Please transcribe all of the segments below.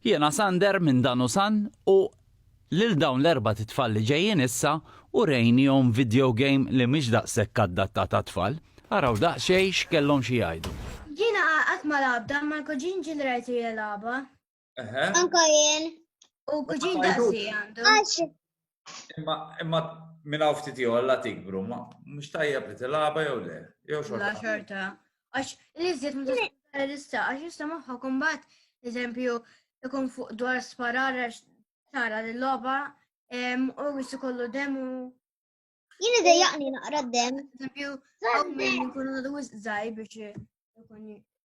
Jiena Sander minn Danusan u lil dawn l-erbat itfal li ġejjin issa urejnihom video game li mhix daqshekk addattat għat-tfal. Araw daqsxejn x'kellhom xi jgħidu. Jiena qatt ma lagħabtha imma l-kuġin ġie li rajtu jilgħabha. Anke jien. U kuġin daqsi għandu. Imma minn hawn ftit ieħor la tikbru, ma mhux tajjeb li tilgħaba jew le, jew xorta. La xorta. Għax li żied ma tista' lista, għax jista' moħħa kumbat, eżempju, ikun fuq dwar sparar għax tara li logħba u jissu kollu demu. Jien idejjaqni naqra d-dem. Eżempju, hawn min ikun għadu żgħir biex ikun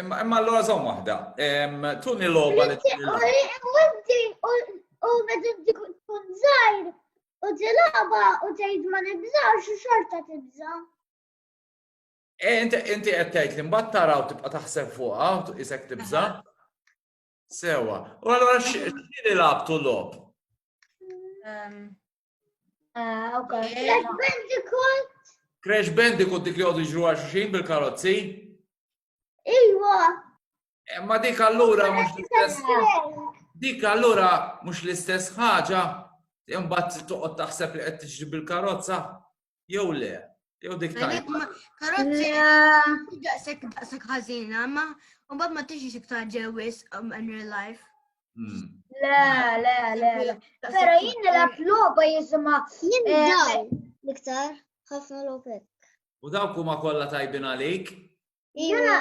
Imma allora żomm waħda. Tuni logħba li U meta tkun żgħir u tilgħaba u tgħid ma nibżax u xorta tibża. Eh, inti inti qed tgħid li mbagħad taraw tibqa' taħseb fuqha u isek tibża. Sewa. U allura x'li labtu lob? Ah, ok. Crash Bandicoot. Crash Bandicoot dik li għodu ġru għal xuxin bil-karozzi? Iwa. Eh, ma dik allura mux l-istess. Dik allura mux l-istess ħaġa. Imbat toqgħod taħseb li qed tiġri bil-karozza. Jew le, jew dik tajba. Karozzi, daqsek daqsek ħażina, ma mbagħad ma tixi iktar ġewis um, in real life. Hmm. Le, le, le, le. Pero jien nilab loba jisma. Jien eh, daw. Iktar, ħafna lobek. U dawk huma kollha tajbin għalik? Jena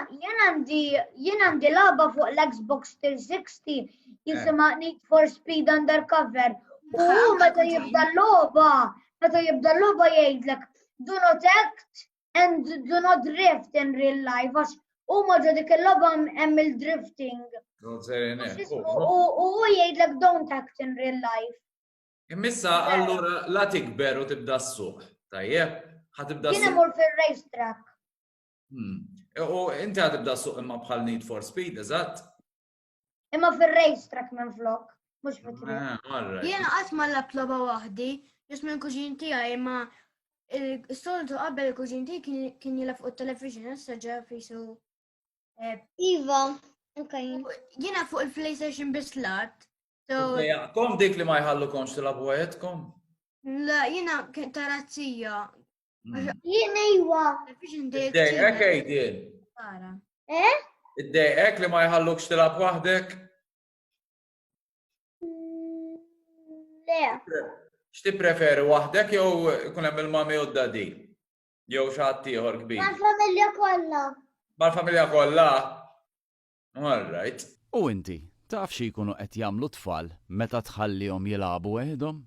għandi jien għandi laba fuq l-Xbox 360 eh. jisima Need for Speed Undercover. U meta jibda l-loba, meta jibda l-loba jgħidlek do not act and do not drift in real life għax u maġa dik il-loba hemm il-drifting. U jgħidlek don't act in real life. Immissa allura la tikber u tibda s-suq, tajjeb? Ħatibda s-suq. Jien imur fil-racetrack. Hmm. U inti għad ibda suq imma bħal Need for Speed, eżatt? Imma fil-race track minn flok, mux fitri. Ah, Jena għat ma l-lab loba wahdi, jis minn kuġin tija, imma il-soltu għabbel il-kuġin tija kien jilaf u television, jessa ġa fisu. Eh, iva, Jena fuq il-PlayStation bis lat. Kom dik li ma jħallu komx tilabu għajetkom? La, jena tarazzija, Jien ejwa. Id-dejqek ejdin. Eh? Id-dejqek li ma jħallukx tilab waħdek? Mm, le. X'ti preferi waħdek jew kun hemm il-mami u d-dadi? Jew xi ħadd ieħor kbir? Mal-familja kollha. Mal-familja kollha? All right. U inti, taf xi jkunu qed jagħmlu tfal meta tħallihom jilagħbu weħidhom?